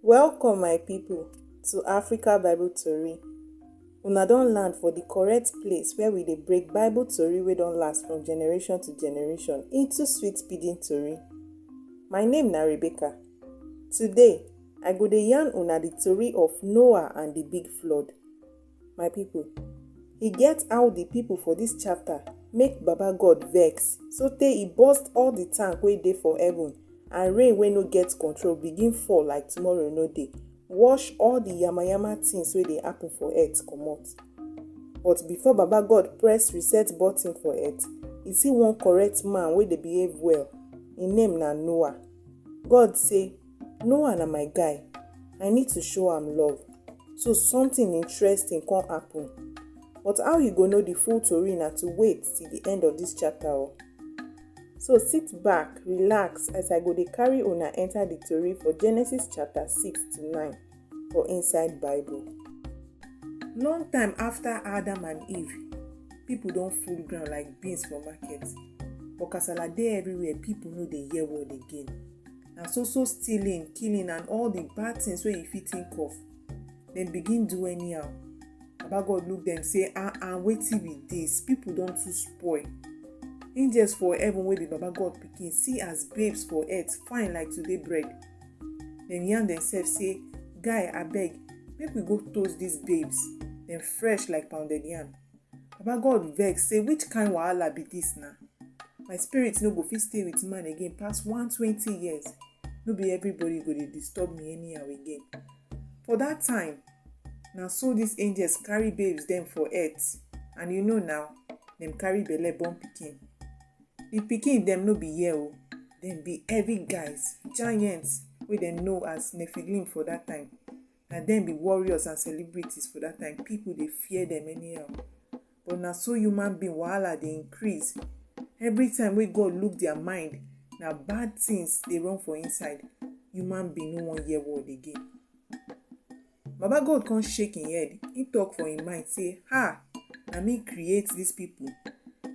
Welcome my people to Africa Bible Tori. Una don land for the correct place where we dey break Bible tori wey don last from generation to generation into sweet pidgin tori. My name na Rebecca. Today, I go dey yarn una the tori of Noah and the big flood. My people, e get how the people for this chapter make Baba God vex so tey e burst all the tank wey dey for heaven and rain wey no get control begin fall like tomorrow no dey wash all the yamayama things wey dey happen for earth comot. But before Baba God press reset button for earth, e see one correct man wey dey behave well. Im name na Noah. God say, Noah na my guy, I need to show am love so something interesting come happen but how you go know the full tori na to wait till the end of this chapter o. Oh. So sit back, relax as I go dey carry una enter the tori for Genesis chapter 6 to 9 for inside Bible. Long time after Adam and Eve, people don full ground like beans for market. But kasala dey everywhere, people no dey hear word again. na so so stealing killing and all the bad things wey you fit think of dem begin do anyhow baba god look dem say ah ah wetin be this people don too spoil angels for heaven wey be baba god pikin see as babes for earth fine like today bread dem yarn themselves say guy abeg make we go toast these babes dem fresh like pounded yam Baba God vex say which kind wahala be this na? My spirit no go fit stay with man again pass 120 years. No be everybody go dey disturb me anyhow again. For that time, na so these angels carry babes dem for earth and you know now, dem carry belle born pikin. The pikin dem no be here o, dem be heavy guys, giants wey dem know as Nephilim for that time. na dem be warriors and celebrities for that time people dey fear them anyhow but na so human being wahala dey increase every time wey god look their mind na bad things dey run for inside human being no wan hear word again baba god come shake him head he talk for him mind say ha na me create these people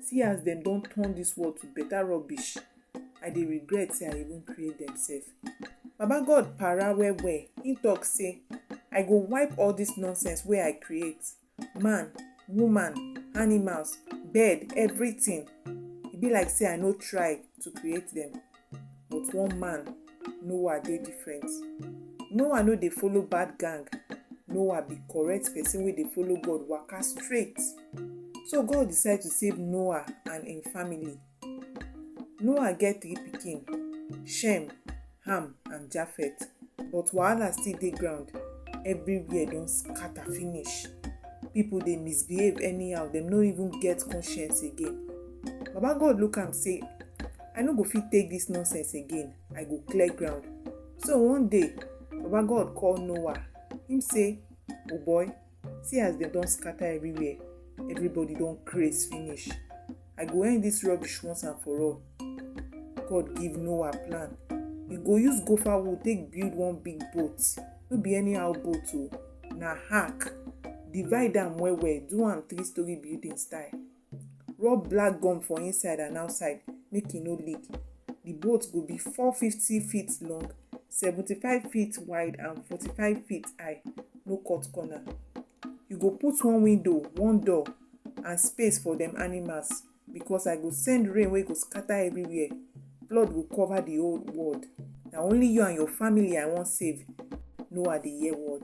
see as dem don turn this world to better rubbish I dey regret say I even create dem sef. Baba God para well well, im talk say I go wipe all dis nonsense wey I create, man, woman, animals, bird, everything. E be like say I no try to create dem but one man, Noah dey different. Noah no dey follow bad gang, Noah be correct person wey dey follow God waka straight. So God decide to save Noah and im family. Noah get three pikin, Shem, Ham and Japheth but wahala still dey ground, everywhere don scatter finish, people dey misbehave anyhow dem no even get conscience again. Baba God look am say I no go fit take dis nonsense again, I go clear ground. So one day, Baba God call Noah, him say, O boy! see as dem don scatter everywhere everybody don craze finish i go end this rubbish once and for all god give noah plan e go use gopher wood take build one big boat no be anyhow boat o na ark divide am well well do am three story building style rub black gum for inside and outside make e no leak the boat go be 450 feet long 75 feet wide and 45 feet high no cut corner you go put one window one door and space for dem animals because i go send rain wey go scatter everywhere flood go cover the whole world na only you and your family i wan save noah dey hear word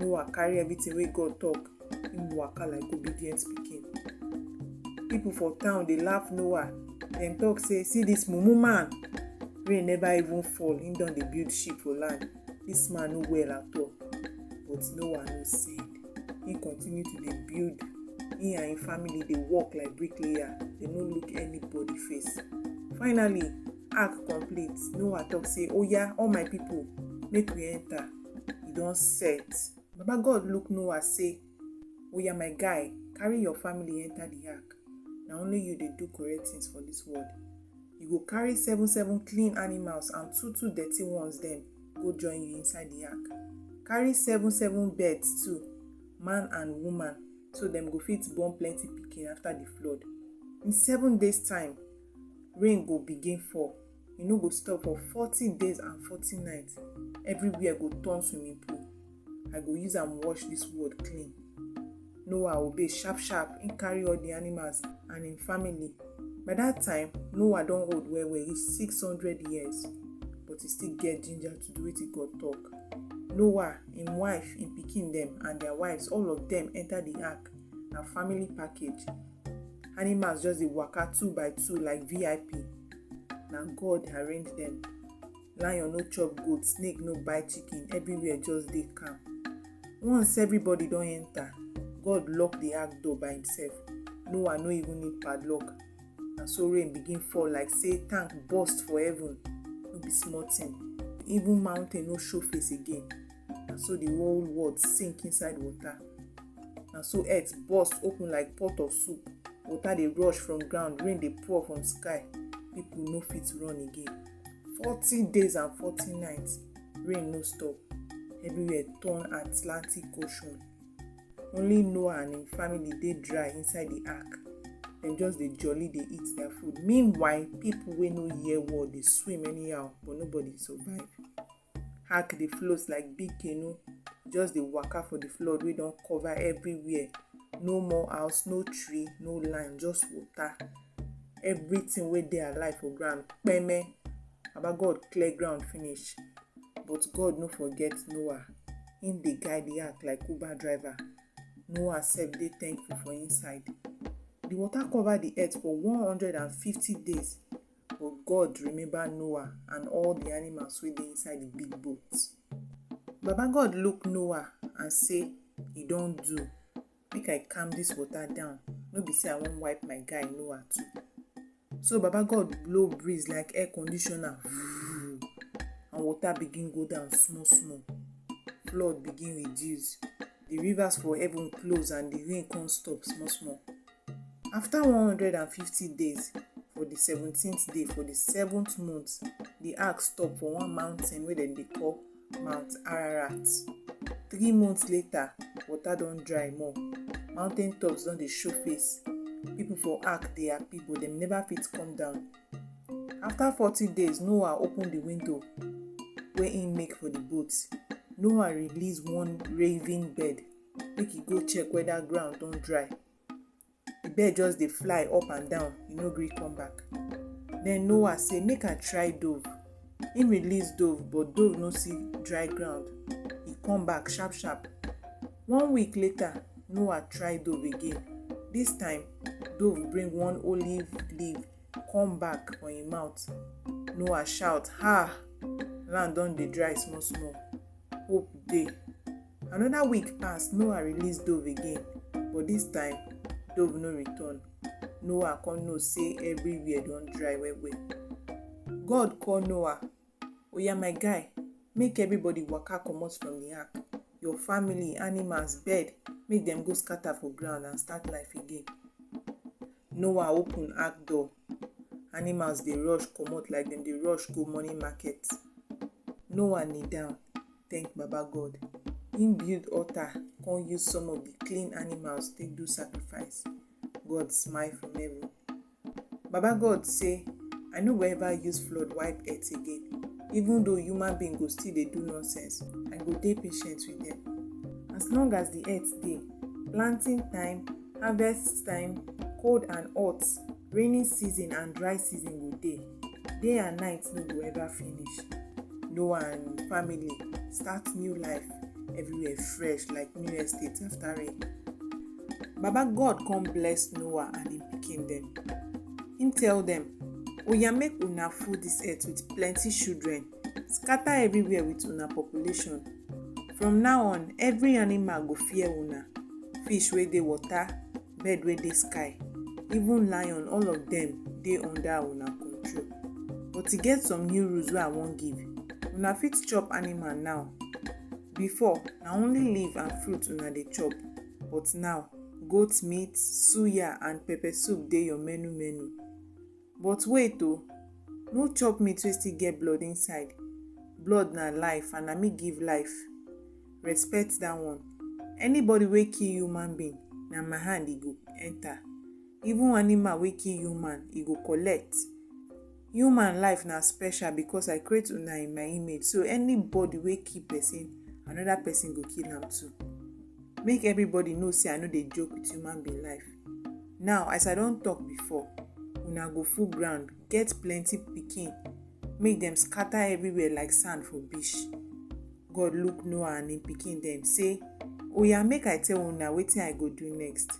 Noah carry everything wey God talk, him waka like obedient pikin. People for town dey laugh Noah, dem talk say, see this mumu man, rain never even fall, him don dey build ship for land, this man no well at all. But Noah no send, he continue to dey build, he and him family dey work like bricklayer, they no look anybody face. Finally, ark complete, Noah talk say, oya all my people make we enter. e don set baba god look noah say oya my guy carry your family enter the ark na only you dey do correct things for this world you go carry seven seven clean animals and two two dirty ones dem go join you inside the ark carry seven seven birds too man and woman so dem go fit born plenty pikin after the flood in seven days time rain go begin fall e no go stop for forty days and forty nights everywhere go turn swimming pool i go use am wash dis world clean noah obey sharp sharp him carry all the animals and him family by that time noah don old well well reach six hundred years but he still get ginger to do wetin god talk noah him wife him pikin dem and their wives all of them enter the ark na family package animals just dey waka two by two like vip na god arrange them. lion no chop goat snake no bite chicken everywhere just dey calm once everybody don enter god lock the ark door by himself noah no even need padlock na so rain begin fall like say tank burst for heaven no be small thing even mountain no show face again na so the whole world sink inside water na so earth burst open like pot of soup water dey rush from ground rain dey pour from sky people no fit run again forty days and forty nights rain no stop everywhere turn atlantic ocean only noah and im family dey dry inside the ark dem just dey jolly dey eat their food meanwhile people wey no hear word dey swim anyhow but nobody survive hack dey float like big canoe just dey waka for the flood wey don cover everywhere no more house no tree no land just water everything wey dey alive for ground kpeme baba god clear ground finish but god no forget noah him dey guide the ark like uber driver noah sef dey thankful for inside the water cover the earth for one hundred and fifty days But God remember Noah and all the animals wey dey inside the big boat. Baba God look Noah and say, E don do. Make I calm this water down. No be say I wan wipe my guy Noah too. So Baba God blow breeze like air conditioner voo and water begin go down small small. Flood begin reduce. The rivers for heaven close and the rain come stop small small. After 150 days, for the 17th day, for the seventh month, the ark stop for one mountain wey dem dey call Mount Ararat. Three months later, water don dry more. Mountain tops don dey show face. People for ark dey happy but dem never fit come down. After 40 days, Noah open the window wey im make for the boat. Noah release one raven bird make e go check whether ground don dry the bird just dey fly up and down e no gree come back then noah say make i try dove him release dove but dove no see dry ground e come back sharp sharp one week later noah try dove again this time dove bring one olive leaf come back for him mouth noah shout ha land don dey dry small small hope dey Another week pass, Noah release dove again, but this time, dove no return. Noah come know say everywhere don dry well well. God call Noah, Oya my guy, make everybody waka comot from the ark. Your family, animals, bird, make dem go scatter for ground and start life again. Noah open ark door, Animals dey rush comot like dem dey rush go morning market. Noah kneel down thank Baba God. Im build altar come use some of the clean animals take do sacrifice. God smile from heaven. Baba God say, I no go ever use flood wipe earth again. Even though human being go still dey do nonsense, I go dey patient with dem. As long as the earth dey, planting time Harvest time, cold and hot, rainy season and dry season go dey. Day and night no go ever finish. Noah and im family start new life, everywhere fresh like new estate after rain. Baba God come bless Noah and im pikin dem. Im tell dem, Oya make una full dis earth with plenty children. scatter everywhere with una population from now on every animal go fear una fish wey dey water bird wey dey sky even lion all of dem dey under una control but e get some new rules wey i wan give una fit chop animal now before na only leaf and fruit una dey chop but now goat meat suya and pepper soup dey your menu menu But wait o, no chop meat wey still get blood inside, blood na life and na me give life, respect dat one. Anybody wey kill human being na my hand e go enter, even animal wey kill human e go collect. Human life na special because I create una in my image so anybody wey kill person another person go kill am too. Make everybody know sey I no dey joke with human being life. Now as I don talk before, una go full ground, get plenty pikin, make dem scatter everywhere like sand for beach. God look Noah and im pikin dem say, Oya make I tell una wetin I go do next.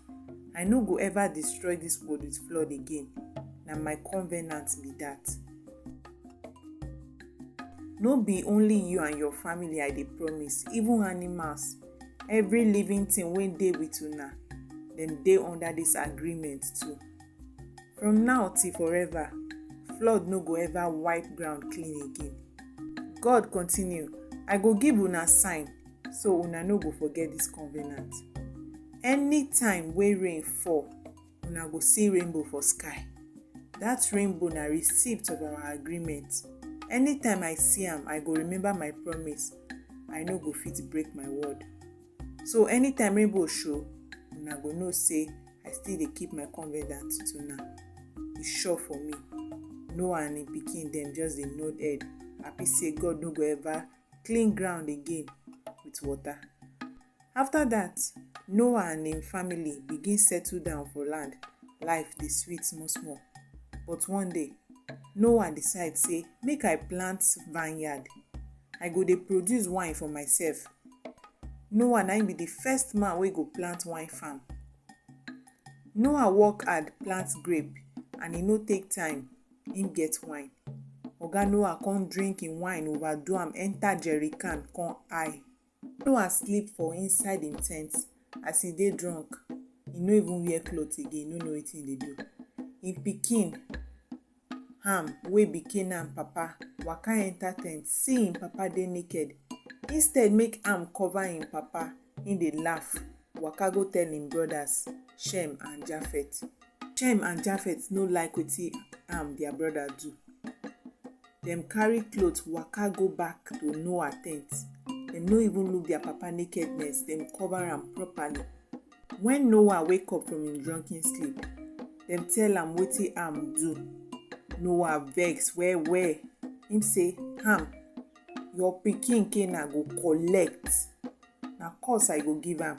I no go ever destroy dis world with flood again. Na my covenant be dat. No be only you and your family I dey promise, even animals every living thing wey dey with una dem dey under this agreement too from now till forever flood no go ever wipe ground clean again god continue i go give una sign so una no go forget this covenant anytime wey rain fall una go see rainbow for sky that rainbow na receipt of our agreement anytime i see am i go remember my promise i no go fit break my word so anytime rainbow show una go know say i still dey keep my covenant to now e sure for me noah and im pikin dem just dey nod head happy say god no go ever clean ground again with water After that, Noah and im family begin settle down for land. Life dey sweet small small. But one day, Noah decide say make I plant vineyard. I go dey produce wine for myself. Noah na im be the first man wey go plant wine farm. Noah work hard plant grape and e no take time, im get wine. Oga Noah come drink im wine overdo am enter jerrycan come high. Noah sleep for inside im tent. As e dey drunk, e no even wear cloth again, e no know wetin e dey do. Im pikin, Ham, wey be Canaan papa, waka enter tent, see im papa dey naked. Instead make Ham cover im papa, im dey laugh, waka go tell im brothers, Shem and Japheth. Shem and Japheth no like wetin Ham, their brother, do. Dem carry cloth waka go back to Noah tent. Dem no even look their papa nakedness, dem cover am properly. When Noah wake up from im drunken sleep, dem tell am wetin Ham do. Noah vex well well. Im say, Ham, your pikin Canaan go collect. Na curse I go give am.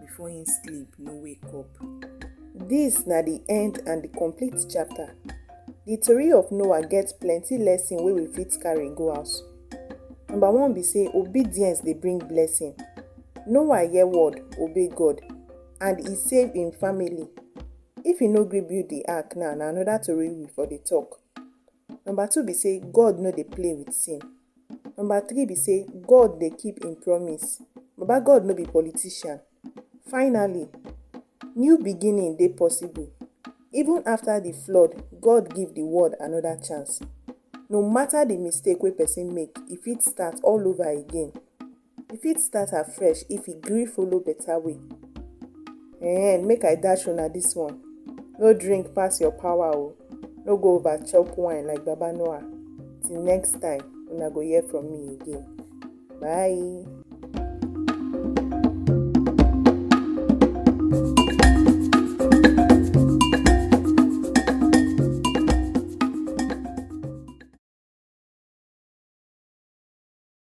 before him sleep no wake up. This na the end and the complete chapter. The tori of Noah get plenty lesson wey we fit carry go house. Number one be say obedience dey bring blessing. Noah hear word, obey God, and e save im family. If e no gree build the ark now, na another tori we for dey talk. Number two be say God no dey play with sin. Number three be say God dey keep im promise. Baba God no be politician. Finally, new beginning dey possible. Even after di flood, God give di world another chance. No matter di mistake wey person make, e fit start all over again. E fit start afresh if e gree follow better way. Ehen, make I dash una this one, no drink pass your power o, no go over chop wine like Baba Noah. Till next time, una go hear from me again. Bye.